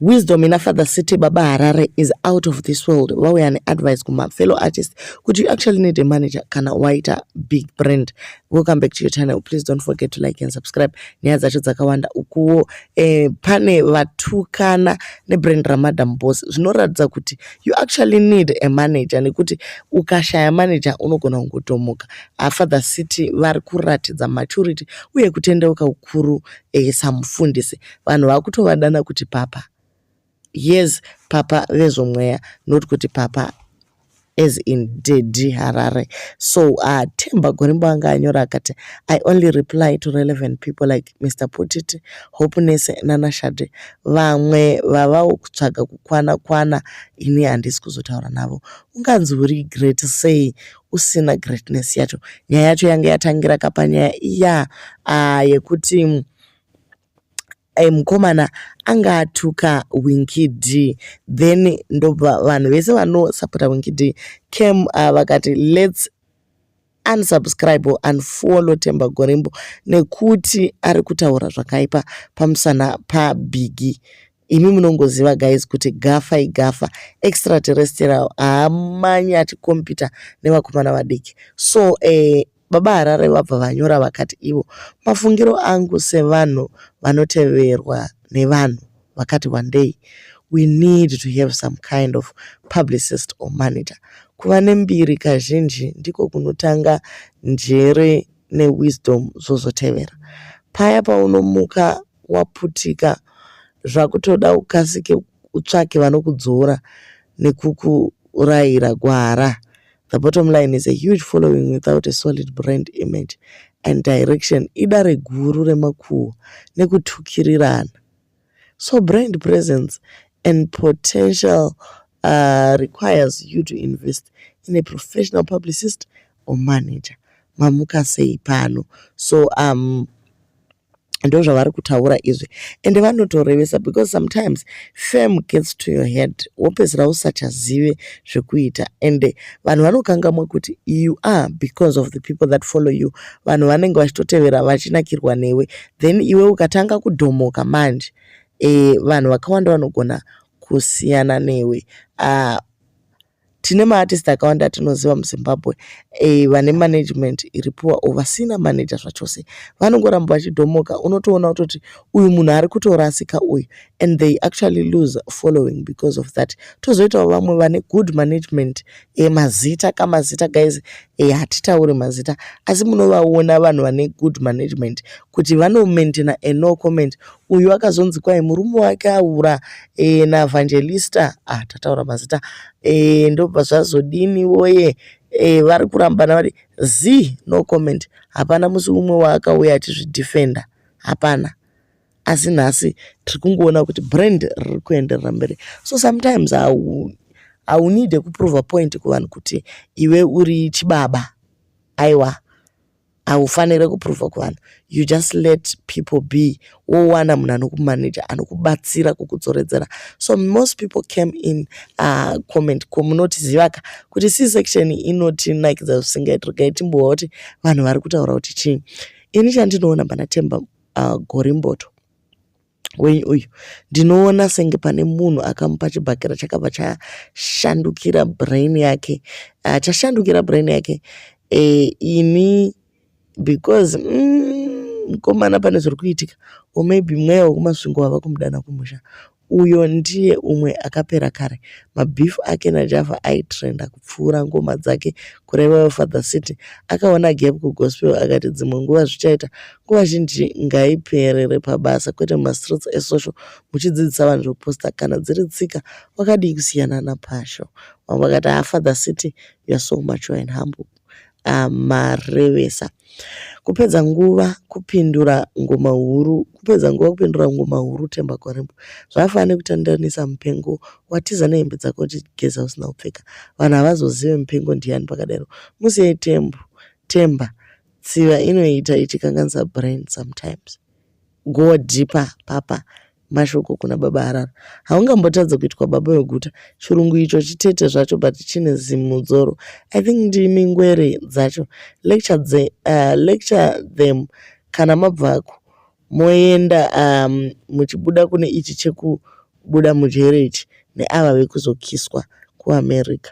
Wisdom ina Father City Baba Harare is out of this world. Vauya neadvice kuma fellow artist kuti you actually need a manager kana waita big brand. Welcome back to your channel. Please don't forget to like and subscribe. Nyaya dzacho dzakawanda ukuwo eh, pane vatukana nebrand ramadam boss zvinoratidza kuti you actually need a manager nekuti ukashaya manager unogona kungotomoka. Ah, Father City vari kuratidza maturity uye kutendeuka ukuru eh, samufundisi. vanhu vakutovadana kuti papa yes papa vezvomweya not kuti papa as in dedi harare so uh, temba gorimbo anga anyora akati i only reply to relevant people like mr putiti hopenese nanashade vamwe vavawo kutsvaga kukwana kwana ini handisi kuzotaura navo unganzi uri great sei usina greatness yacho nyaya yacho yanga yatangira kapanyaya iya uh, yekuti eh, mukomana anga atuka winky d then ndobva vanhu vese vanosapota winky d cam uh, ah, vakati lets unsubscribe or unfollow temba gorimbo nekuti ari kutaura zvakaipa pamusana pabiggie imi munongoziva guys kuti gafa igafa extraterrestrial haamanyi atikompita nevakomana vadiki so eh, baba harare vabva vanyora vakati ivo mafungiro angu sevanhu vanoteverwa nevanhu vakati wandei we need to have some kind of publicist or manager kuva nembiri kazhinji ndiko kunotanga njere newisdom zvozotevera paya paunomuka waputika zvakutoda ukasike utsvake vanokudzora nekukurayira gwara. The bottom line is a huge following without a solid brand image and direction idare guru remakuhwa nekutukirirana. So brand presence and potential uh, requires you to invest in a professional publicist or manager. Mamuka sei pano. So um, ndozvavari kutaura izvi ende vanotorevesa because sometimes fame gets to your head wopedzisira usachazive zvekuita ende vanhu vanokangamwa kuti you are because of the people that follow you vanhu vanenge vachitotevera vachinakirwa newe then iwe ukatanga kudhomoka manje e, vanhu vakawanda vanogona kusiyana newe uh, tine maartist akawanda atinoziva muzimbabwe eh, vane management iri poor or vasina manager zvachose vanongoramba vachidhomoka unotoona kutoti uyu munhu ari kutorasika uyu and they actually lose following because of that tozoitawo vamwe vane good management eh, mazita ka mazita guys eh, hatitaure mazita asi munovaona vanhu vane good management kuti vanomaintaina a no comment uyu akazonzi kwai murume wake aura e, navangelista ah, tataura mazita e, ndobva zvazodini woye e, vari kurambana vari z no comment hapana musi umwe waakauya achizvidefenda hapana asi nhasi tiri kungoona kuti brand riri kuenderera mberi so sometimes haunide kuprova point kuvanhu kuti iwe uri chibaba aiwa haufanire kuprova kuvanhu you just let people be wowana munhu anokumanaja anokubatsira kukudzoredzera so most people came in uh, comment ko munotiziva ka kuti c section inotinakidza zvisingaiti regai timbowa kuti vanhu vari kutaura kuti chii ini chandinoona pana temba uh, gorimboto wenyu uyu ndinoona senge pane munhu akamupa chibhakera chakabva chashandukira brain yake uh, chashandukira brain yake uh, ini because mm, mukomana mm, pane zviri kuitika or maybe mweya wekumasvingo wava kumudana kumusha uyo ndiye umwe akapera kare mabhifu ake najava aitrenda kupfuura ngoma dzake kurevawo father city akaona gap kugospel akati dzimwe nguva zvichaita nguva zhinji ngaiperere pabasa kwete mumastreets esocial muchidzidzisa vanhu zvoposta kana dziri tsika wakadii kusiyana napasho vamwe vakati ha father city youare so mature and humble amarevesa ah, kupedza nguva kupindura ngoma huru kupedza nguva kupindura ngoma huru temba kwarembo zvakafanana nekutandanisa mupengo watiza nehembe dzako uchigeza usina kupfeka vanhu havazozive mupengo ndiyani pakadero musiyei tembo temba tsiva inoita ichikanganisa brain sometimes Go deeper papa. Mashoko kuna baba Harara. Haungambotadze kuitwa baba weguta. Chirungu icho chitete zvacho but chine zimudzoro. I think ndimi ngwere dzacho. Lecture, dze, uh, lecture them kana mabvako moenda um, muchibuda kune ichi chekubuda mujere ichi neava vekuzokiswa kuamerica.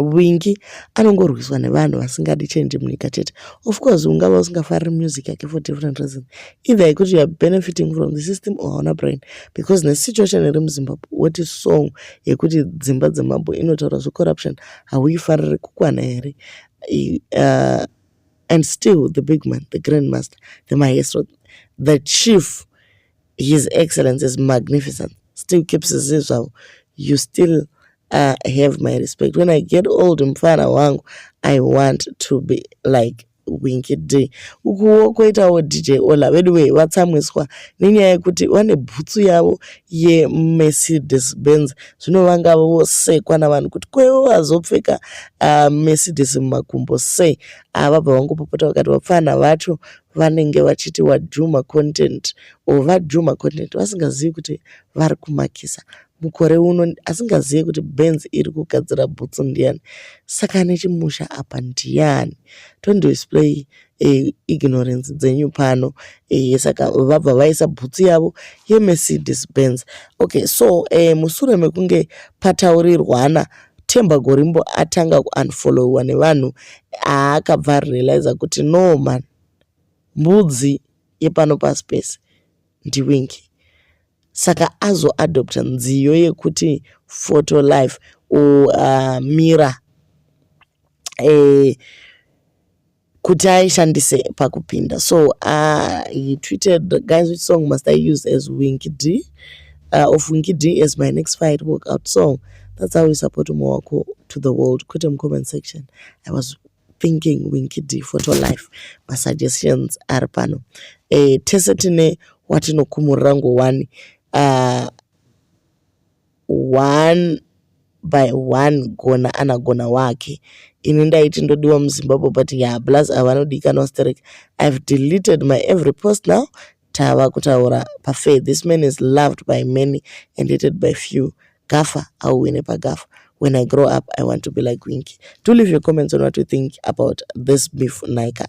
wingi anongorwiswa nevanhu vasingadi change munyika chete of course ungava usingafariri music yake for different reason either yekuti youare benefiting from the system or hauna brain because nesituation iri muzimbabwe woti song yekuti dzimba dzemambo inotaura zvecorruption hauifariri kukwana here uh, and still the big man the grand master the maestro the chief his excellence is magnificent still keeps zii zvavo you still uh, have my respect when i get old mfana wangu i want to be like winky d ukuwo kwoitawo dj ola veduwee vatsamwiswa nenyaya yekuti vane bhutsu yavo yemercedes benz zvino vanga vosekwa navanhu kuti kwevo vazopfeka uh, mercedes mumakumbo sei avabva ah, vangopopota vakati vapfana vacho vanenge vachiti wadhuma content or vadhuma content vasingazivi kuti vari kumakisa mukore uno asingazive kuti benz iri kugadzira bhutsu ndiyani saka ane chimusha apa ndiyani tondidisplay e, eh, ignorance dzenyu pano e, saka vabva vaisa bhutsu yavo yemercedes benz okay so e, mushure mekunge pataurirwana Themba Gorimbo atanga kuunfollowiwa nevanhu aakabva arealizer kuti no man mbudzi yepano pasi pese ndiwinky saka azoadopta nziyo yekuti photo life or uh, mirror eh, kuti aishandise pakupinda so uh, he tweeted guys which song must i use as winky d uh, of winky d as my next fight workout song that's how we support umwe wako to the world kwete mucomment section i was thinking winky d photo life masuggestions ari pano e, tese tine watinokumurira ngowani uh, one by one gona anagona wake ini ndaiti ndodiwa muzimbabwe but ya plus avanodikanwa sterek i've deleted my every post now tava kutaura pafair this man is loved by many and hated by few gafa auwine pagafa when i grow up i want to be like winky do leave your comments on what you think about this beef naika